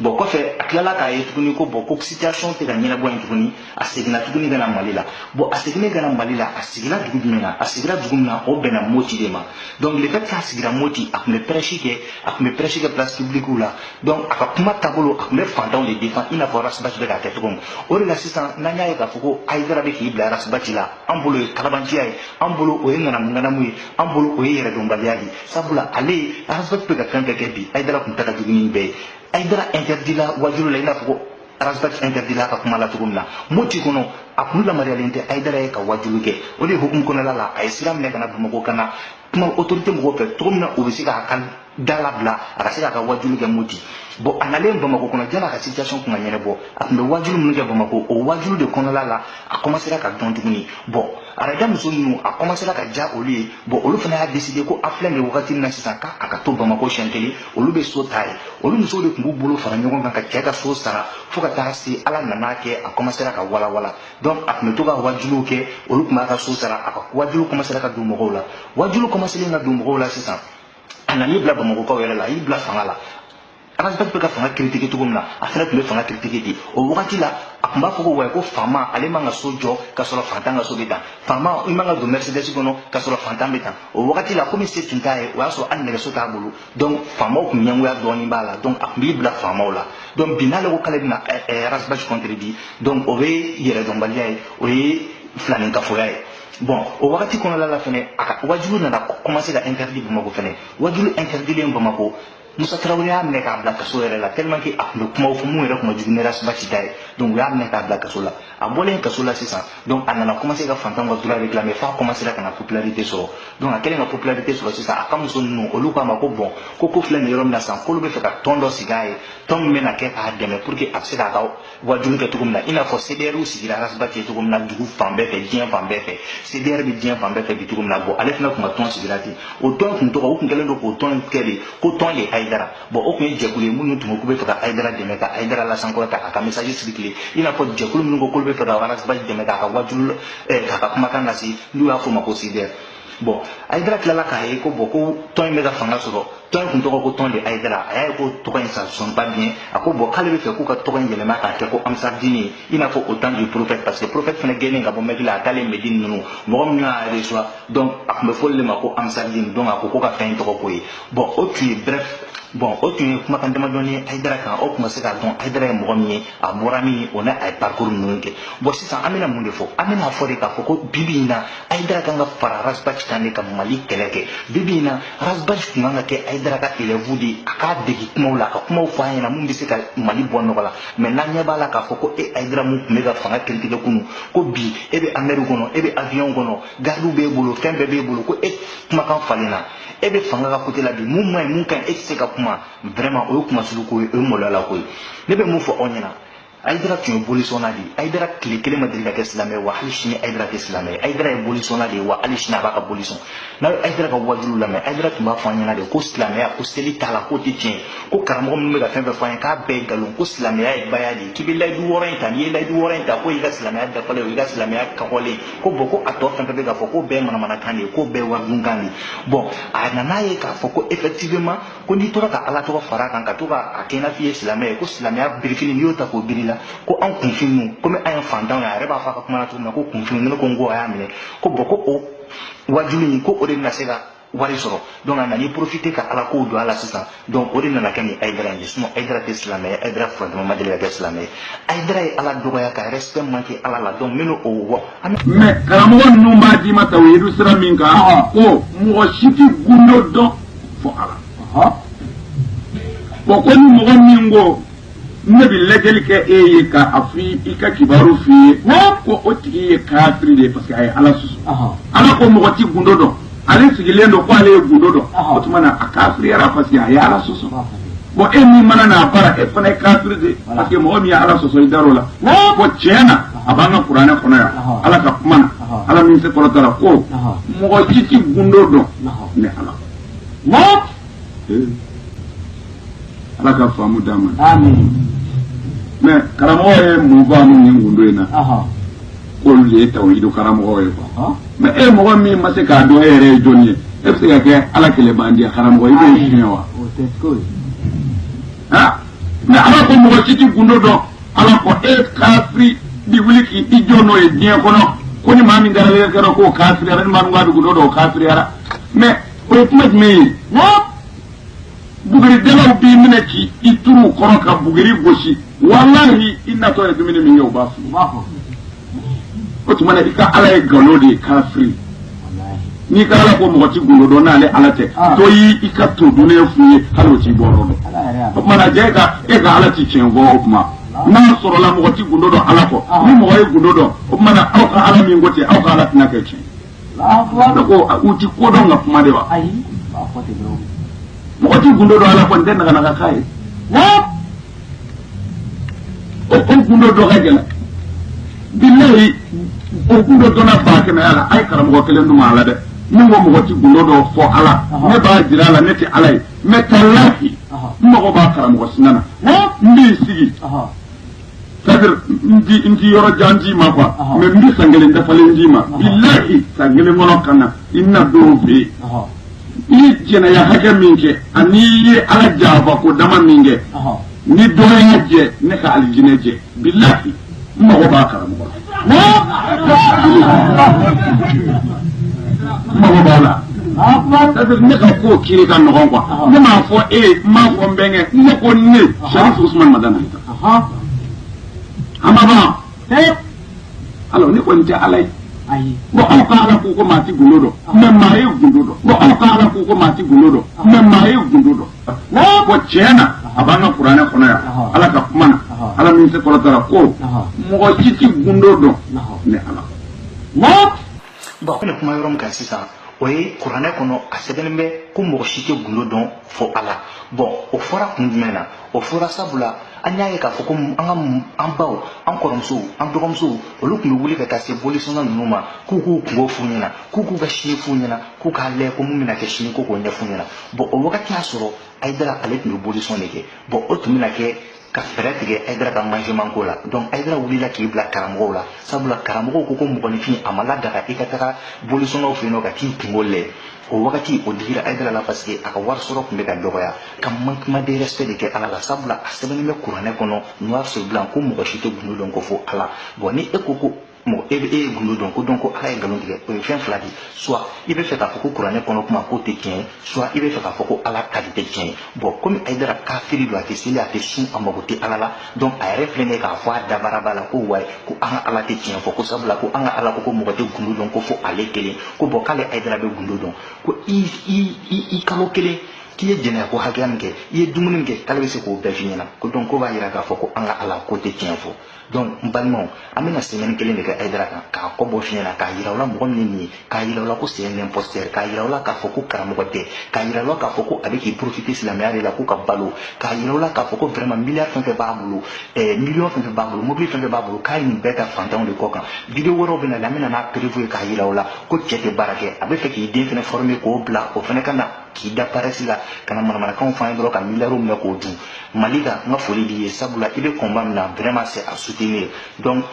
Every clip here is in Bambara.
bɔn kɔfɛ a tilala k'a ye tuguni ko bɔn ko situation tɛ ka ɲɛnabɔ yen tuguni a seginna tuguni ka na mali la bɔn a seginnen ka na mali la a sigira dugu jumɛn na a sigira dugu min na o bɛnna moti de ma donc le fait k'a sigira moti a tun bɛ pɛrɛsi kɛ a tun bɛ pɛrɛsi kɛ place publikiw la donc a ka kuma taabolo a tun bɛ fantanw de defan i n'a fɔ rasibati bɛ k'a kɛ cogo min o de la sisan n'an y'a ye k'a fɔ ko ayidara bɛ k'i bila rasibati la an bolo o ye kalabanciya ye an bolo o ye ŋanamu ŋanamu ye an bolo o ye yɛrɛdɔnbaliya de ye sabula ale arazbati bɛ ka fɛn o fɛn kɛ bi ayidara tun ta ka jugu ni bɛɛ ye ayidara interdit la wajulu la i n'a fɔ ko arazbati interdit la ka kuma la cogo min na moti kɔnɔ a tun yamaruyalen tɛ ayidara ye ka wajulu kɛ o de hukumu kɔnɔla la a ye sira minɛ ka na bamakɔ ka na kuma autorité mɔgɔw fɛ cogo min na u bɛ se k'a ka da labila a ka se k'a ka wajulu kɛ moti bɔn a nalen bamakɔ kɔnɔ yani a ka situation tun ka ɲɛnabɔ a tun bɛ wajulu minnu kɛ bamakɔ o wajulu de kɔnɔla la a commencera ka dɔn tuguni bɔn araja muso ninnu a kɔmasela ka diya olu ye bɔn olu fana y'a deside ko a filɛ nin wagati min na sisan ka a ka to bamakɔ siɲɛ kelen olu bɛ so ta a ye olu musow de tun b'u bolo fara ɲɔgɔn kan ka cɛ ka so sara fo ka taa se ala nan'a kɛ a kɔmasela ka walawala donc a tun bɛ to ka wajuliw kɛ olu tun b'a ka so sara a ka wajuliw kɔmasela ka don mɔgɔw la wajuliw kɔmaselen ka don mɔgɔw la sisan a nan'i bila bamakɔkaw yɛrɛ la a y'i bila fanga la arasbati bɛ ka fanga kiritike cogo min na a fana tun bɛ fanga kiritike ten o wagati la a tun b'a fɔ ko wayi ko faama ale man ka so jɔ ka sɔrɔ fantan ka so bɛ tan faama i man ka don mɛrisidɛsi kɔnɔ ka sɔrɔ fantan bɛ tan o wagati la komi se tun t'a ye o y'a sɔrɔ hali nɛgɛso t'a bolo donc faamaw tun ɲɛngoya dɔɔnin b'a la donc a tun b'i bila faamaw la donc bi n'ale ko k'ale bɛna arasbati contredire donc o ye yɛrɛdɔnbaliya ye o ye filankafoya ye bon o wagati kɔnɔna la fɛnɛ a ka wajulu nana commencer ka interdit bamakɔ fɛnɛ wajulu interdilen bamakɔ musa tarawele y'a minɛ k'a bila kaso yɛrɛ la tellement que a tun bɛ kumaw fɔ min yɛrɛ tun ka jugu ni rasibati ta ye donc u y'a minɛ k'a bila kaso la a bɔlen kaso la sisan donc a nana commencer ka fantanw ka droit réclamer f'a commencera ka na popularité sɔrɔ donc a kɛlen ka popularité sɔrɔ sisan a ka muso ninnu olu k'a ma ko bon ko ko filɛ nin yɔrɔ min na sisan k'olu bɛ fɛ ka tɔn dɔ sigi a ye tɔn min bɛna kɛ k'a dɛmɛ pour que a bɛ se k'a ka wajulu kɛ cogo min na i n'a fɔ CDR sigira Arasbati ye cogo min na dugu fan bɛɛ fɛ diɲɛ fan bɛɛ fɛ CDR bɛ diɲɛ fan bɛɛ fɛ bi cogo min na bɔn ale fana tun ka tɔn sigira ten o tɔn tun tɔgɔ u tun kɛlen don k'o tɔn kɛ de ko tɔn de Ayidara bɔn o tun ye jɛkulu ye minnu tun ko k'u bɛ fɛ ka Ayidara dɛmɛ ka Ayidara lasankɔrɔta a ka message circuler i n'a fɔ jɛkulu minnu ko k'olu bɛ fɛ ka Arasba dɛmɛ k'a ka wajulu k'a ka kumakan lase n'u y'a fɔ o ma ko CDR bɔn ayidara tilala k'a ye ko bɔn ko tɔn in bɛ ka fanga sɔrɔ tɔn in tun tɔgɔ ko tɔn de ayidara a y'a ye ko tɔgɔ in ça sonne pas bien a ko bɔn k'ale bɛ fɛ k'u ka tɔgɔ in yɛlɛma k'a kɛ ko ansardini i n'a fɔ au temps du prophète parce que prophète fana gɛnnen ka bɔ mɛki la a taalen mɛdini mɔgɔ minnu y'a recevoir donc a tun bɛ fɔ olu de ma ko ansardini donc a ko ko ka fɛn in tɔgɔ k'o ye bɔn o tun ye brɛf bɔn o tun ye kumakan damadɔni ye ayidara kan aw tun ma se k'a dɔn ayidara ye mɔgɔ min ye a bɔra min o n'a a ye parcours ninnu kɛ bɔn sisan an bɛna mun de fɔ an bɛna fɔ de k'a fɔ ko bibi in na ayidara kan ka fara ras bath kan de ka mali kɛlɛ kɛ bibi in na ras bath tun kan ka kɛ ayidara ka élève de a k'a degi kumaw la a ka kumaw fɔ an ɲɛna mun bɛ se ka mali bɔ nɔgɔ la mɛ n'an ɲɛ b'a la k'a fɔ ko e ayidara min tun bɛ ka fanga kiritigɛ kunu ko bi e bɛ hummer kɔnɔ e bɛ avion kɔnɔ gardiw b'e bolo fɛn bɛɛ b'e bolo ko e kumakan falenna e bɛ fanga ka côté la bi mun man ɲi mun ka ɲi e tɛ se ka kuma vraiment o ye kunmasuli ko ye o ye maloyala ko ye ne bɛ mun fɔ aw ɲɛna ayidara tun ye bolisɔnna de ye ayidara tile kelen ma deli ka kɛ silamɛ ye wa hali sini ayidara tɛ silamɛ ye ayidara ye bolisɔnna de ye wa hali sini a b'a ka bolisɔn n'a ye ayidara ka wajuliw lamɛn ayidara tun b'a fɔ an ɲɛna de ko silamɛya ko seli t'a la k'o tɛ tiɲɛ ye ko karamɔgɔ minnu bɛ ka fɛn fɛn fɔ an ye k'a bɛɛ ye nkalon ko silamɛya ye baya de ye k'i bɛ layidu wɔɔrɔ in ta n'i ye layidu wɔɔrɔ in ta k'o y'i ka silamɛya dafalen o y'i ka silamɛya kɔgɔlen ye ko bɔn ko a tɔ fɛn fɛn bɛ k'a fɔ k'o bɛɛ ye manamanakan de ye k'o bɛɛ ye waridunkan de ye bɔn a nana ye k'a fɔ ko effectivement ko n'i tora ka ala tɔgɔ fara a kan ka to k'a kɛ n'a f'i ye silamɛ ye ko silamɛya birifini n'i y'o ta k'o biri i la ko an kunfin komi an ye fantanw ye a yɛrɛ b'a fɔ a ka kuma na cogo min na ko kunfin ne ko n ko a y'a minɛ ko bɔn ko o wajuli in ko o de bɛna se ka wari sɔrɔ donc a nana i profiter ka ala kow don a la sisan donc o de nana kɛ nin ayidara in ye sinon ayidara tɛ silamɛ ye ayidara furantama ma deli ka kɛ silamɛ ye ayidara ye ala dɔgɔya ka respect manque ala la donc minnu o wɔ mais karamɔgɔ ninnu b'a d'i ma tawhidu sira min kan ko mɔgɔ si tɛ gundo dɔn fo ala bɔn ko ni mɔgɔ min ko ne bɛ lajɛli kɛ e ye ka a fɔ i ka kibaru f'i ye ko o tigi ye kafiri de ye parce que a ye ala sɔsɔ ala ko mɔgɔ ti gundo dɔn ale sigilen don ko ale ye gundo dɔn o tuma na a kafiriyara parce que a ye ala sɔsɔ bɔn e min mana n'a bara e fana ye kafiri de parce que mɔgɔ min ye ala sɔsɔ i dar'o la bɔn tiɲɛ na a b'an ka kuranɛ kɔnɔ yan ala ka kuma na ala min se kɔrɔtara ko mɔgɔ si ti gundo dɔn ni ala ala ka faamu d'an ma mɛ karamɔgɔ ye mun faamu nin gundo in na k'olu de ye tawhidu karamɔgɔ ye quoi mɛ e mɔgɔ min ma se k'a dɔn e yɛrɛ ye jɔni ye e bɛ se ka kɛ ala kɛlɛbandiya karamɔgɔ i b'o suɲɛ wa mɛ ala ko mɔgɔ si tɛ gundo dɔn ala ko e kafiri bi wuli k'i i jɔ n'o ye diɲɛ kɔnɔ ko ni maa min tagara lajɛ kɛra k'o kafiriyara ni maa min k'a bi gundo dɔn o kafiriyara mɛ o ye kuma jumɛn ye buguridalaw b'i minɛ k'i i turu u kɔrɔ ka buguri gosi walahi i natɔ ye dumuni min kɛ u b'a fɔ o tuma na i ka ala ye nkalon de ye kafiri n'i ka ala ko mɔgɔ tɛ gundo dɔn n'ale ala tɛ ah. dɔ y'i ka to dunnen f'u ye hali o t'i bɔ yɔrɔ dɔn o tuma na jɛ e ka e ka ala tɛ tiɲɛ fɔ o tuma n'a sɔrɔla mɔgɔ tɛ gundo dɔn ala kɔ ah. ni mɔgɔ ye gundo dɔn o tuma na aw ka ala min ko ten aw ka ala tɛna kɛ tiɲɛ ko aw ti ko dɔn ka kuma de wa ayi mɔgɔ ti gundo dɔn ala kɔni tɛ naganaga k'a ye o ko gundo dɔn ka gɛlɛn bilayi o gundo dɔnna ba kɛnɛya la a ye karamɔgɔ kelen dun a la dɛ min ko mɔgɔ ti gundo dɔn fo ala ne b'a jira a la ne tɛ ala ye mais talahi n mago b'a karamɔgɔ si nana n b'i sigi c'est-à-dire n ti n ti yɔrɔ jan d'i ma quoi Ɔhɔn. mais n bɛ san kelen dafalen d'i ma bilahi san kelen kɔnɔ ka na i na don fɛ yen Ɔhɔn. i ye jɛnɛya hakɛ min kɛ ani i ye ala janfa ko dama min kɛ Ɔhɔn. ni dɔ y'a jɛ ne ka alijinɛ jɛ bilahi n mago b'a karamɔgɔ la n mago b'a la Akbar. c'est-à-dire ne ka ko kiri ka nɔgɔn quoi ne m'a fɔ e ye n m'a fɔ n bɛnkɛ ne ko ne sarifu usumani madani Aha. an b'a fɔ ee ala ne kɔni tɛ ala ye Ayi. bon aw ka ala ko ko maa ti gundo dɔn mais maa ye gundo dɔn bon aw ka ala ko ko maa ti gundo dɔn mais maa ye gundo dɔn n'a ko tiɲɛ na a b'an ka kuranɛ kɔnɔ yan Aha. ala ka kuma na Aha. ala min se kɔrɔtara ko Aha. mɔgɔ si ti gundo dɔn Aha. ni ala N'a bon ne kuma yɔrɔ min kan sisan o ye kuranɛ kɔnɔ a sɛbɛnnen bɛ ko mɔgɔ si tɛ gundo dɔn fo ala bon o fɔra kun jumɛn na o fɔra sabula an y'a ye k'a fɔ ko an ka an baw an kɔrɔmusow an dɔgɔmusow olu tun bɛ wuli ka taa se bolisɔnna ninnu ma k'u k'u kunko f'u ɲɛna k'u k'u ka sini f'u ɲɛna k'u k'a lajɛ ko mun bɛna kɛ sini ko k'o ɲɛf'u ɲɛna bon o wagati y'a sɔrɔ ayidara ale tun bɛ bolisɔn de kɛ bon o tun bɛna kɛ ka fɛɛrɛ tigɛ ayidara ka mangement ko la donc ayidara wulila k'i bila karamɔgɔw la sabula karamɔgɔw ko ko mɔgɔninfin a ma ladaga i ka taga bolisɔnnaw fɛ yen nɔ ka t'i kunko lɛ o wagati o digira ayidara la parce que a ka wari sɔrɔ tun bɛ ka dɔgɔya ka manquement de respect de kɛ ala la sabula a sɛbɛnnen bɛ kuranɛ kɔnɔ noir sur blanc ko mɔgɔ si tɛ gundo dɔn ko fo ala bon ni e ko ko mɔgɔ e bɛ e ye gundo dɔn ko donc ko ala ye nkalon tigɛ o ye fɛn fila de ye soit i bɛ fɛ k'a fɔ ko kuranɛ kɔnɔ kuma k'o tɛ tiɲɛ ye soit i bɛ fɛ k'a fɔ ko ala ta de tɛ tiɲɛ ye bon komi ayidara kafiri don a tɛ seli a tɛ sun a mago tɛ ala la donc a yɛrɛ filɛ nin ye k'a fɔ a dabaraba la ko wayi ko an ka ala tɛ tiɲɛ fɔ ko sabula ko an ka ala ko ko mɔgɔ tɛ gundo dɔn ko fo ale kelen ko bon k'ale ayidara bɛ gundo dɔn ko i i i i kalo kelen k'i ye jɛnɛya ko hakɛya min kɛ i ye dumuni min kɛ k'ale bɛ se k'o bɛɛ f'i ɲɛna ko donc k'o b'a jira k'a fɔ ko an ka ala k'o tɛ tiɲɛ fɔ donc n balimaw an bɛna semaine kelen de kɛ ayidara kan k'a kɔ bɔ fiɲɛ na k'a yira u la mɔgɔ min nin ye k'a yira u la ko c'est un imposteur k'a yira u la k'a fɔ ko karamɔgɔ tɛ k'a yira u la k'a fɔ ko a bɛ k'i profiter silamɛya de la ko ka balo k'a yira u la k'a fɔ ko vraiment milliard fɛn fɛn b'a bolo ɛɛ million fɛn fɛn b'a bolo mobili fɛn fɛn b'a bolo k'a ye nin bɛɛ ta fantanw de kɔ kan video wɛrɛw bɛ na la an bɛna n'a preuve ye k'a yira u la ko cɛ tɛ baara kɛ a bɛ fɛ k'i den fana former k'o bila o fana ka na k'i da parɛsi la ka na manamanakanw fɔ an ye dɔrɔn ka miliyariw minɛ k'o dun malika n ka foli b'i ye sabula i bɛ combat min na vraiment c'est à soutenir donc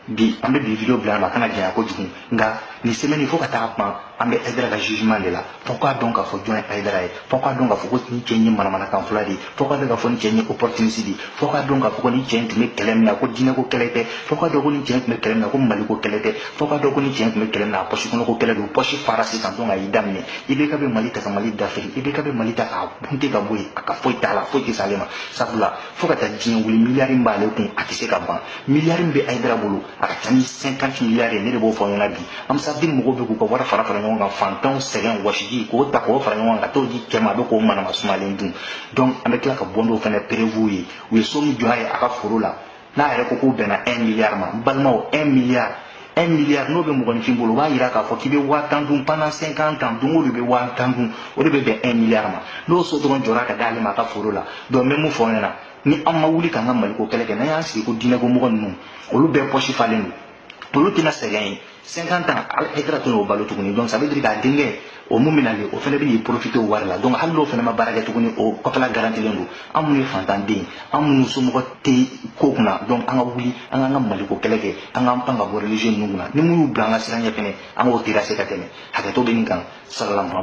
bi an bɛ bi video bila ma a kana janya kojugu nka nin semaine fo ka taa ban an bɛ aidara ka jugement de la fo k'a dɔn k'a fɔ jɔn ye aidara ye fo k'a dɔn k'a fɔ ko nin cɛ in ye manamanakan fɔla de ye fo k'a dɔn k'a fɔ nin cɛ in ye opportuniste de ye fo k'a dɔn k'a fɔ ko nin cɛ in tun bɛ kɛlɛ min na ko diinɛko kɛlɛ tɛ fo k'a dɔn ko nin cɛ in tun bɛ kɛlɛ min na ko maliko kɛlɛ tɛ fo k'a dɔn ko nin cɛ in tun bɛ kɛlɛ min na pɔsi kɔnɔ ko kɛlɛ don pɔsi fara sisan donc a y'i da minɛ IBK bɛ mali ta ka mali dafiri IBK bɛ mali ta k'a bunte ka bɔ yen a ka foyi t'a la foyi tɛ se ale ma sabula fo ka taa diɲɛ wuli miliyari min b'ale kun a tɛ se ka ban miliyari min bɛ ayidara bolo a ka ca ni cinquante miliyari ye ne de b'o fɔ ɲɛna bi ansar dine mɔgɔw bɛ k'u ka wari fara fara ɲɔgɔn kan fantanw sɛgɛn wɔsiji k'o ta k'o fara ɲɔgɔn kan ka t'o di cɛ ma a bɛ k'o manama sumalen dun donc an bɛ tila ka bɔ n'o fana preuve ye u ye so min jɔ a ye a ka foro la n'a yɛrɛ ko k'o bɛnna un miliyari ma n balimaw un miliyari un miliyari n'o bɛ mɔgɔninfin bolo o b'a jira k'a fɔ k'i bɛ waa tan dun pendant cinquante ans don o don i bɛ waa tan dun o de bɛ bɛn un miliyari ma n'o so dɔrɔn jɔra ka d'ale ma a ka foro la donc n bɛ mun fɔ aw ɲɛna ni an ma wuli k'an ka maliko kɛlɛ kɛ n'an y'an sigi ko diinɛko mɔgɔ ninnu olu bɛɛ pɔsi falen don olu tɛna sɛgɛn ye cinquante ans haidara tɛna o balo tuguni donc ça veut dire k'a denkɛ o mun bɛna le o fana bɛ profiter o wari la donc hali n'o fana ma baara kɛ tuguni o kɔfɛla garantilen don an minnu ye fantanden an minnu somɔgɔ tɛ ko kunna donc an ka wuli an k'an ka maliko kɛlɛ kɛ an k'an pan ka bɔ religieux ninnu kunna ni min y'i bila an ka sira ɲɛ fɛnɛ an k'o terrasser ka tɛmɛ hakɛto bɛ nin kan salalamu